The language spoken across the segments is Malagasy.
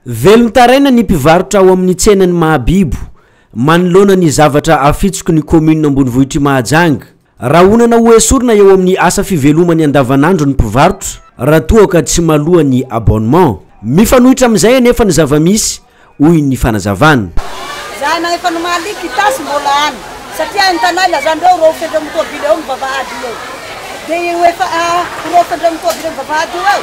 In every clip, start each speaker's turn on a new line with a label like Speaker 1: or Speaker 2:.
Speaker 1: Velon-taraina ny mpivarotra ao amin'ny tsenan'i Mahabibo, manoloana ny zavatra afitsoky ny kaominina ambonivohitr'i Mahajanga. Rahonana ho esorina eo amin'ny asa fivelomany andavanandro ny mpivarotra, raha toa ka tsy maloa ny abonnement. Mifanohitra amin'izay anefa ny zava-misy, hoy ny fanazavana. Izahay na efa
Speaker 2: nomaly quittance mbola any, satria entanay lazandreo horaofin'ireo mitobile eo ny vavahady io eo. Dia io efa horaofin'ireo mitobile eo ny vavahady io eo,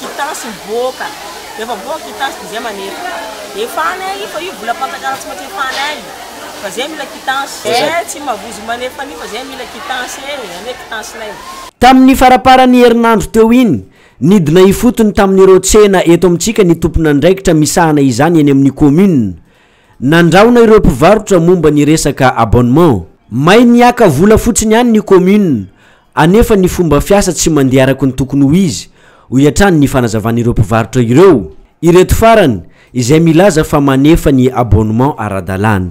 Speaker 3: Quittance mivoaka, rehefa mivoaka quittance dia izay manery. Efa any ahy io fa io vola panjakana tsy maintsy efa any ahy fa zay mila quittance. Eh tsy mavozo manefa an'io fa zay mila quittance eh, anie quittance nay. Tamin'ny faraparan'ny
Speaker 1: herinandro teo iny, nidina ifotony tamin'ireo tsena eto amintsika ny tompon'andraikitra misahana izany eny amin'ny kaominina. Nandrahona ireo mpivarotra momba ny resaka abonnement. May nihiaka vola fotsiny ihany ny kaominina, Anefa ny fomba fiasa tsy mandeha araka ny tokony ho izy, hoy hatrany ny fanazavan'ireo mpivarotra ireo. Ireto farany izay milaza fa manefa ny abonnement ara-dalàna.